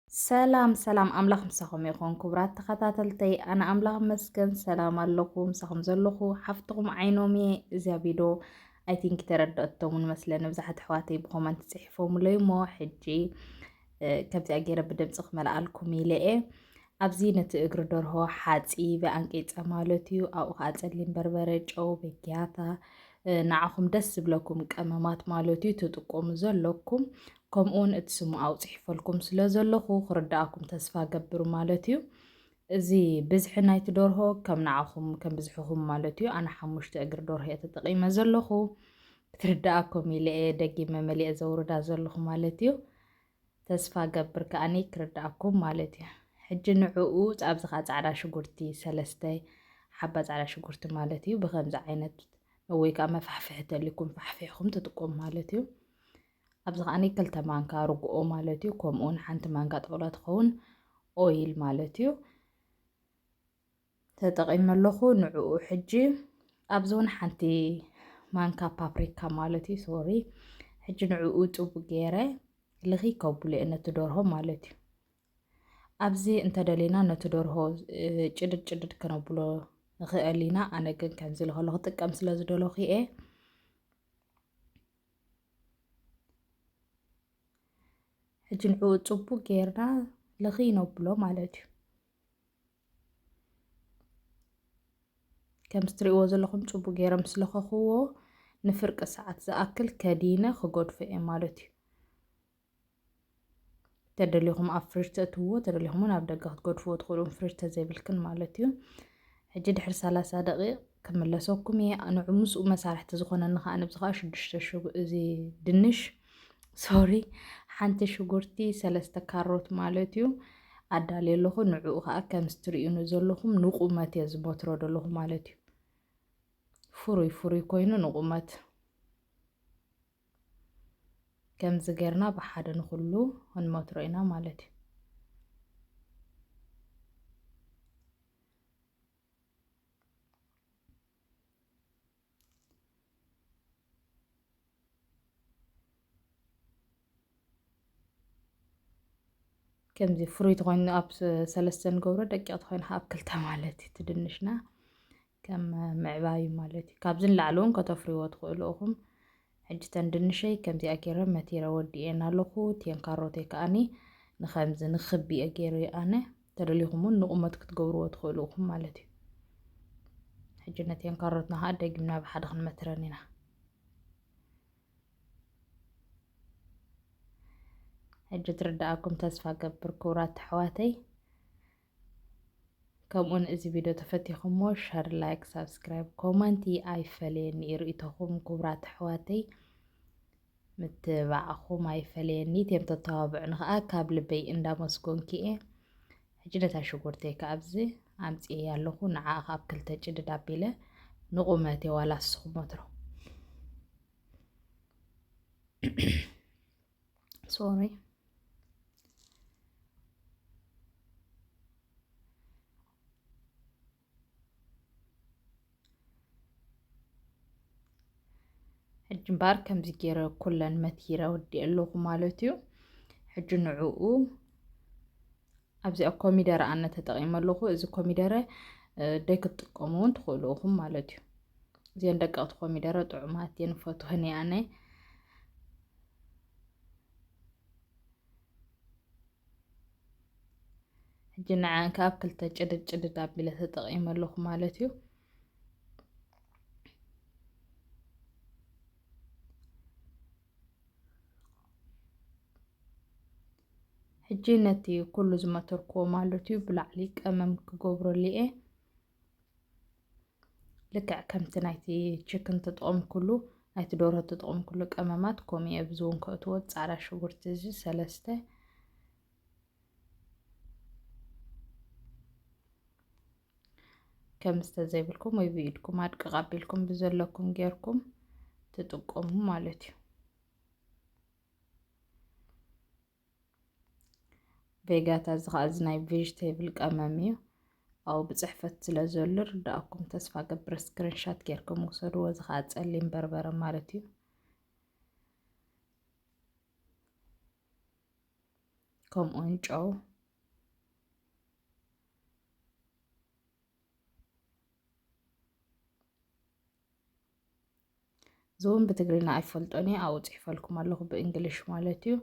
ሰላም ሰላም ኣምላኽ ምሳኹም ይኹን ክቡራት ተኸታተልተይ ኣነ ኣምላኽ መስገን ሰላም ኣለኹ ምሳኹም ዘለኹ ሓፍትኹም ዓይኖም እየ እዚያ ቪዶ ኣይ ቲንክ ተረድኦቶምን መስለኒ ብዙሓት ኣሕዋተይ ብኮመንት ጽሒፎምለይ እሞ ሕጂ ከምዚኣ ገይረ ብድምፂ ክመልኣልኩም ኢለ እየ ኣብዚ ነቲ እግሪ ደርሆ ሓፂበ ኣንቂፀ ማለት እዩ ኣብኡ ከዓ ፀሊም በርበረ ጨው በጊያታ ንዓኹም ደስ ዝብለኩም ቀመማት ማለት እዩ ትጥቆሙ ዘለኩም ከምኡውን እቲ ስሙ ኣውጺሕፈልኩም ስለ ዘለኹ ክርድኣኩም ተስፋ ገብር ማለት እዩ። እዚ ብዝሒ ናይቲ ደርሆ ከም ንዓኹም ከም ብዝሕኹም ማለት እዩ። ኣነ ሓሙሽተ እግሪ ደርሆ እየ ተጠቒመ ዘለኹ ክትርድኣኩም ኢለ እየ ደጊመ መሊኤ ዘውርዳ ዘለኹ ማለት እዩ። ተስፋ ገብር ከኣኒ ክርድኣኩም ማለት እዩ። ሕጂ ንዕኡ ኣብዚ ከዓ ፃዕዳ ሽጉርቲ ሰለስተ ሓባ ፃዕዳ ሽጉርቲ ማለት እዩ ብከምዚ ዓይነት ወይ ከዓ መፋሕፍሒ ተሊኩም ፋሕፊሕኩም ትጥቀሙ ማለት እዩ። ኣብዚ ከኣ ክልተ ማንካ ርግኦ ማለት እዩ ከምኡ ውን ሓንቲ ማንካ ጥቕሎ ትኸውን ኦይል ማለት እዩ ተጠቒመ ኣለኹ ንዕኡ ሕጂ ኣብዚ ውን ሓንቲ ማንካ ፓፕሪካ ማለት እዩ ሶሪ ሕጂ ንዕኡ ጥቡ ገይረ ልኺ ከብሉ እየ ነቲ ደርሆ ማለት እዩ ኣብዚ እንተደሊና ነቲ ደርሆ ጭድድ ጭድድ ክነብሎ ንኽእል ኢና ኣነ ግን ከምዚ ልኸሎ ክጥቀም ስለ ዝደለኹ እየ ሕጂ ንዕኡ ጽቡቅ ጌርና ልኺ ነብሎ ማለት እዩ ከምዚ ትሪእዎ ዘለኹም ጽቡቅ ጌሮም ስለኸኽዎ ንፍርቂ ሰዓት ዝኣክል ከዲነ ክገድፎ እየ ማለት እዩ ተደሊኹም ኣብ ፍሪጅ ተእትዎ ተደሊኹም እውን ኣብ ደገ ክትገድፍዎ ትኽእሉን ፍሪጅ ተዘይብልክን ማለት እዩ ሕጂ ድሕሪ ሰላሳ ደቂቕ ክምለሰኩም እየ ንዑ ምስኡ መሳርሕቲ ዝኾነኒ ከዓ ንብዚ ከዓ ሽዱሽተ እዚ ድንሽ ሶሪ ሓንቲ ሽጉርቲ ሰለስተ ካሮት ማለት እዩ ኣዳልየ ኣለኹ ንዕኡ ከዓ ከምዚ ትርእዩኒ ዘለኹም ንቁመት እየ ዝበትሮ ዘለኹ ማለት እዩ ፍሩይ ፍሩይ ኮይኑ ንቁመት ከምዚ ጌርና ብሓደ ንኹሉ ክንመትሮ ኢና ማለት እዩ ከምዚ ፍሩይ ተኮይኑ ኣብ ሰለስተ ንገብሮ ደቂቅ ተኮይኑ ኣብ ክልተ ማለት እዩ ትድንሽና ከም ምዕባዩ ማለት እዩ ካብዚ ንላዕሊ እውን ከተፍርይዎ ትኽእሉ እኹም ሕጂ ተን ድንሸይ ከምዚኣ ገይረ መቲረ ወዲኤን ኣለኹ እቲኤን ካሮተይ ከኣኒ ንከምዚ ንክቢ እየ ገይረዮ ኣነ ተደሊኹም እውን ንቑመት ክትገብርዎ ትኽእሉ እኹም ማለት እዩ ሕጂ ነቲኤን ካሮትና ከዓ ደጊምና ብሓደ ክንመትረን ኢና ሕጂ ትርዳኣኩም ተስፋ ገብር ክቡራት ኣሕዋተይ ከምኡውን እዚ ቪድዮ ተፈቲኹሞ ሸር ላይክ ሳብስክራይብ ኮመንቲ ኣይፈለየኒ እዩ ርእቶኹም ክቡራት ኣሕዋተይ ምትባዕኹም ኣይፈለየኒ እትም ተተባብዑኒ ከዓ ካብ ልበይ እንዳመስጎንኪ እየ ሕጂ ነታ ሽጉርተይ ከዓ ኣብዚ ኣምፅኤ ኣለኹ ንዓ ካብ ክልተ ጭድድ ኣቢለ ንቑመቴ ዋላ ንስኹም ወትሮ ሶሪ ሕጂ እምበኣር ከምዚ ገይረ ኩለን መትሂረ ወዲኤ ኣለኹ ማለት እዩ ሕጂ ንዕኡ ኣብዚኣ ኮሚደረ ኣነ ተጠቂመ ኣለኹ እዚ ኮሚደረ ደይ ክትጥቀሙ እውን ትኽእሉ ኢኹም ማለት እዩ እዚን ደቀቕቲ ኮሚደረ ጥዑማት እየን ፈትወን እየ ኣነ ሕጂ ንዓን ከዓ ኣብ ክልተ ጭድድ ጭድድ ኣቢለ ተጠቂመ ኣለኹ ማለት እዩ ሕጂ ነቲ ኩሉ ዝመተርክዎ ማለት እዩ ብላዕሊ ቀመም ክገብረሉ እየ ልክዕ ከምቲ ናይቲ ችክን ተጠቐምኩሉ ናይቲ ዶሮ ተጠቐምኩሉ ቀመማት ከምኡ እየ ብዚ እውን ከእትዎ ፃዕዳ ሽጉርቲ እዚ ሰለስተ ከም ዝተዘይብልኩም ወይ ብኢድኩም ኣድቅቕ ኣቢልኩም ብዘለኩም ጌርኩም ትጥቀሙ ማለት እዩ ቬጋታ እዚ ከዓ እዚ ናይ ቬጅቴብል ቀመም እዩ ኣብኡ ብፅሕፈት ስለ ዘሎ ርዳእኩም ተስፋ ገብረ ስክሪንሻት ጌርኩም ውሰድዎ እዚ ከዓ ፀሊም በርበረ ማለት እዩ ከምኡውን ጨው እዚውን ብትግርና ኣይፈልጦን እየ ኣብኡ ፅሒፈልኩም ኣለኹ ብእንግሊሽ ማለት እዩ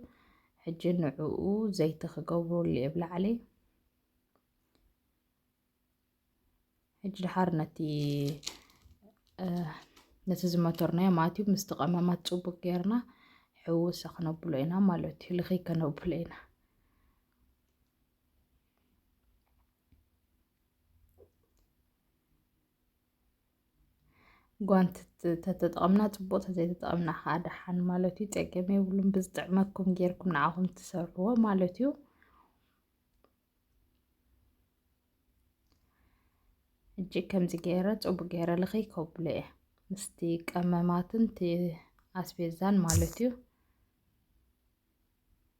ሕጂ ንዕኡ ዘይቲ ክገብረሉ እየ ብላዕሊ ሕጂ ድሓር ነቲ ነቲ ዝመተርናዮ ማለት እዩ ምስቲ ቀመማት ፅቡቅ ጌርና ሕውሰ ክነብሎ ኢና ማለት እዩ ልኽይ ከነብሎ ኢና ጓንቲ ተተጠቐምና ፅቡቕ ተዘይተጠቐምና ከዓ ደሓን ማለት እዩ ፀገም የብሉን ብዝጥዕመኩም ጌርኩም ንዓኹም ትሰርሕዎ ማለት እዩ እጅ ከምዚ ገይረ ፅቡቅ ገይረ ልኸይ ከብሎ እየ ምስቲ ቀመማትን ኣስቤዛን ማለት እዩ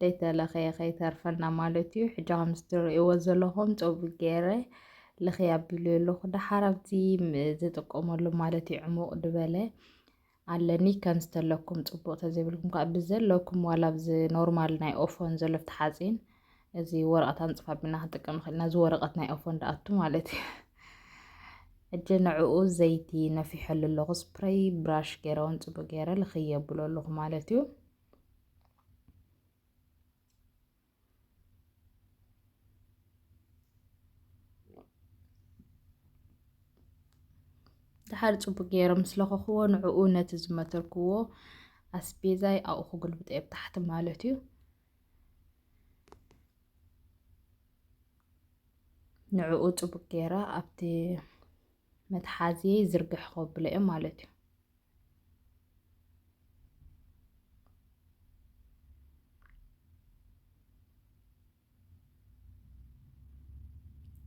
ደይተለኽየ ከይተርፈና ማለት እዩ ሕጂ ከምዚ ትርእይዎ ዘለኹም ጸጉሪ ገይረ ልኽይ ኣቢሉ ኣለኹ ደሓር ኣብዚ ዝጥቀመሉ ማለት እዩ ዕሙቕ ድበለ ኣለኒ ከም ዝተለኩም ጽቡቕ ተዘይብልኩም ከዓ ብዘለኩም ዋላ ብዚ ኖርማል ናይ ኦፎን ዘሎ ፍቲ ሓፂን እዚ ወረቐት ኣንፅፋ ቢና ክንጥቀም ንኽእል ኢና እዚ ወረቐት ናይ ኦፎን ደኣቱ ማለት እዩ ሕጂ ንዕኡ ዘይቲ ነፊሐሉ ኣለኹ ስፕረይ ብራሽ ገይረ እውን ፅቡቅ ገይረ ልኽየብሎ ኣለኹ ማለት እዩ ድሓር ፅቡቅ ገይረ ምስ ለኸኽዎ ንዕኡ ነቲ ዝመተርክዎ ኣስቤዛይ ኣብኡ ክጉልብጠ ኣብ ታሕቲ ማለት እዩ ንዕኡ ፅቡቅ ገይረ ኣብቲ መትሓዚየይ ዝርግሕ ከብሎ እየ ማለት እዩ።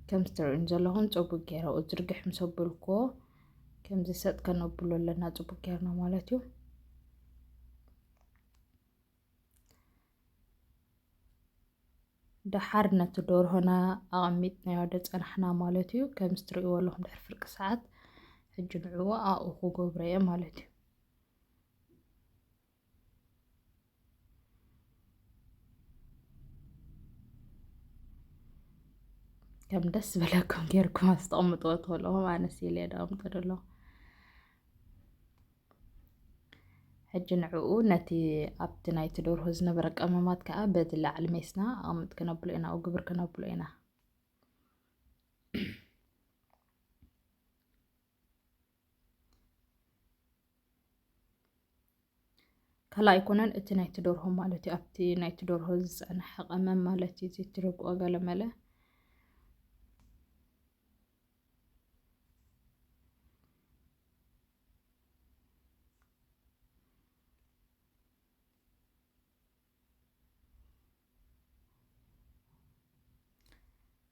ከምዚ ትርእዩኒ ዘለኹም ፅቡቅ ጌረ ኣብኡ ዝርግሕ ምስ ኣበልኩዎ ከምዚ ሰጥ ከነብሎ ኣለና ፅቡቅ ጌርና ማለት እዩ። ደሓር ነቲ ዶርሆና ኣቐሚጥናዮ ዶ ጸናሕና ማለት እዩ ከምዚ ትርእይዎ ኣለኹም ድሕሪ ፍርቂ ሰዓት ሕጂ ንዕኡ ኣብኡ ክገብሮ እየ ማለት እዩ ከም ደስ ዝበለኩም ጌርኩም ኣስተቕምጥዎ ትኽእልኹም ኣነስ ኢለ ዶ ኣምጥዶ ኣለኹ ሕጂ ንዕኡ ነቲ ኣብቲ ናይቲ ደርሆ ዝነበረ ቀመማት ከኣ በቲ ላዕሊ ሜስና ኣቕምጥ ክነብሎ ኢና፣ ግብር ክነብሎ ኢና። ካልኣ ኣይኮነን እቲ ናይቲ ደርሆ ማለት እዩ ኣብቲ ናይቲ ደርሆ ዝፀንሐ ቀመም ማለት እዩ ዝትርግኦ ገለመለ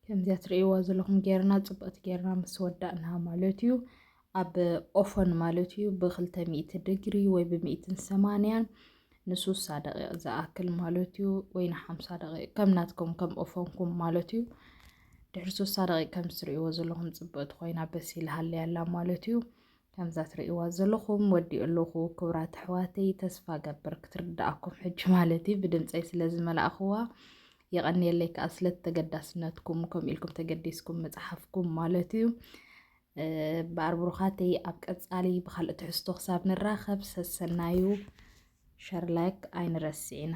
ከምዚያ ትርእይዋ ዘለኹም ጌርና ፅብቕቲ ጌርና ምስ ወዳእና ማለት እዩ ኣብ ኦፈን ማለት እዩ ብክልተ ሚእቲ ድግሪ ወይ ብሚእትን ሰማንያን ንሱሳ ደቂቕ ዝኣክል ማለት እዩ ወይ ንሓምሳ ደቂቕ ከም ናትኩም ከም ኦፈንኩም ማለት እዩ ድሕሪ ሱሳ ደቂቕ ከም ዝትርእይዎ ዘለኹም ፅብቕቲ ኮይና በሲል ሃለያ ኣላ ማለት እዩ ከምዛ ትርእይዋ ዘለኹም ወዲኡ ኣለኹ ክብራት ኣሕዋተይ ተስፋ ገብር ክትርድኣኩም ሕጂ ማለት እዩ ብድምፀይ ስለ ዝመላእኽዋ የቐንየለይ ከዓ ስለ ተገዳስነትኩም ከምኡ ኢልኩም ተገዲስኩም መፅሓፍኩም ማለት እዩ እምበኣር ብሩኻተይ ኣብ ቀጻሊ ብካልእ ትሕዝቶ ክሳብ ንራኸብ ሰሰናዩ ሸር ላይክ ኣይንረስዕ ኢና።